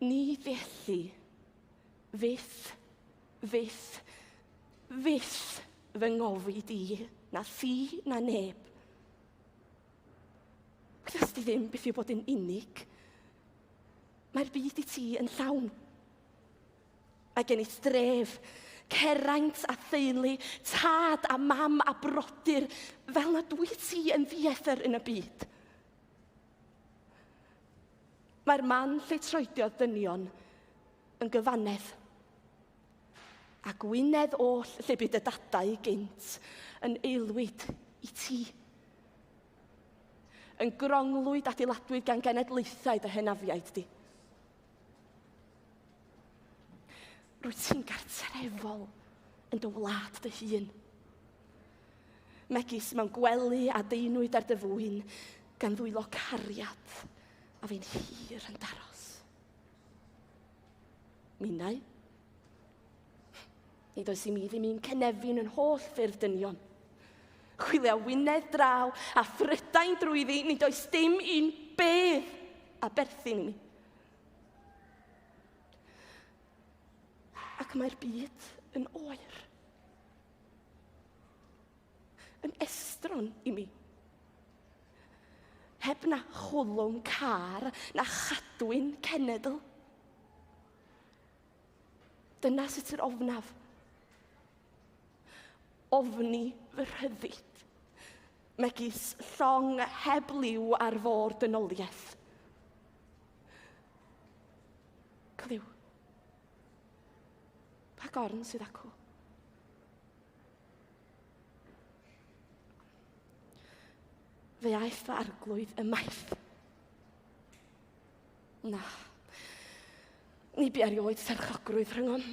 Ni felly. Fyth, fyth, fyth fy ngofi di, na thi, na neb. Cres di ddim beth yw bod yn unig. Mae'r byd i ti yn llawn. Mae gen i dref, ceraint a theulu, tad a mam a brodyr, fel na dwy ti yn ddiethr yn y byd. Mae'r man lle troediodd dynion yn gyfannedd. A gwynedd oll lle bydd y dadau gynt yn eilwyd i ti. Yn gronglwyd adeiladwyd gan genedlaethau dy henafiaid di. Rwyt ti'n gartrefol yn dy wlad dy hun. Megis mewn gwely a deinwyd ar dy fwyn, gan ddwylo cariad a fi'n hir yn daros. Minau? Nid oes i mi ddim un cynefin yn holl ffyrdd dynion. Chwilio wynedd draw a thrydain drwyddi, nid oes dim un bedd a berthyn i mi. Ac mae'r byd yn oer. Yn estron i mi. Heb na chwlwm car na chadwyn cenedl. Dyna sut yr ofnaf. Ofni fy rhyddid, megis llong heb liw ar fôr dynoliaeth. Clyw. Pa gorn sydd acw? Fe aeth fy arglwydd ymaith. Na. Ni bu erioed serchogrwydd rhyngom.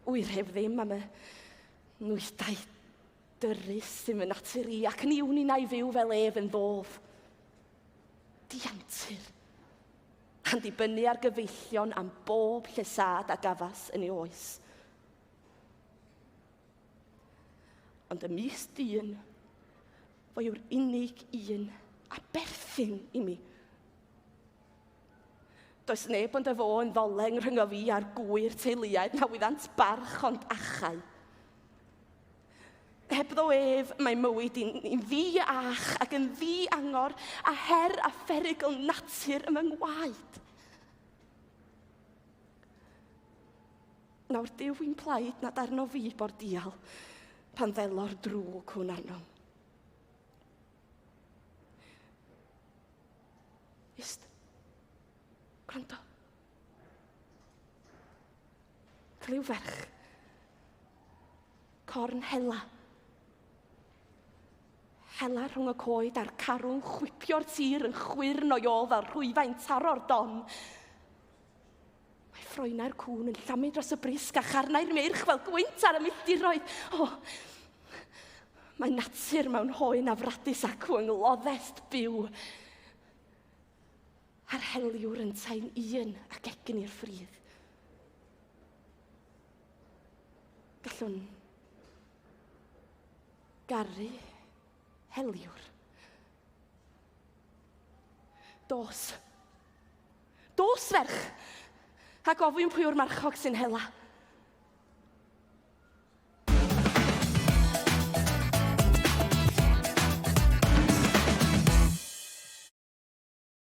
Wyr heb ddim am y nwyddau dyrru sy'n fy natur i, ac ni wn i na i fyw fel ef yn ddof. Diantur. A'n dibynnu ar gyfeillion am bob llesad a gafas yn ei oes. Ond y mis dyn, Fo yw'r unig un a berthyn i mi. Does neb ond efo yn ddoleng rhyngo fi a'r gwyr teuluaid na wyddant barch ond achau. Heb ddo ef, mae mywyd i'n ni ddi ach ac yn ddi angor a her a pherygl natur ym yng ngwaed. Nawr, Duw fi'n plaid nad arno fi bo'r dial pan ddelo'r drwg hwn arnom. Just gwrando. Clyw ferch. Corn hela. Hela rhwng y coed a'r carw'n chwipio'r tir yn chwyrn o'i ôl fel rhwyfau'n taro'r don. Mae ffroenau'r cŵn yn llamu dros y brisg a charnau'r meirch fel gwynt ar y milltiroedd. O, mae natur mewn hoen afradus acw yng ngloddest byw. A'r heliwr yn taen un ac egin i'r ffridd. Gallwn garu Heliwr. Dos. Dos, ferch! A gofyn pwy o'r marchog sy'n hela.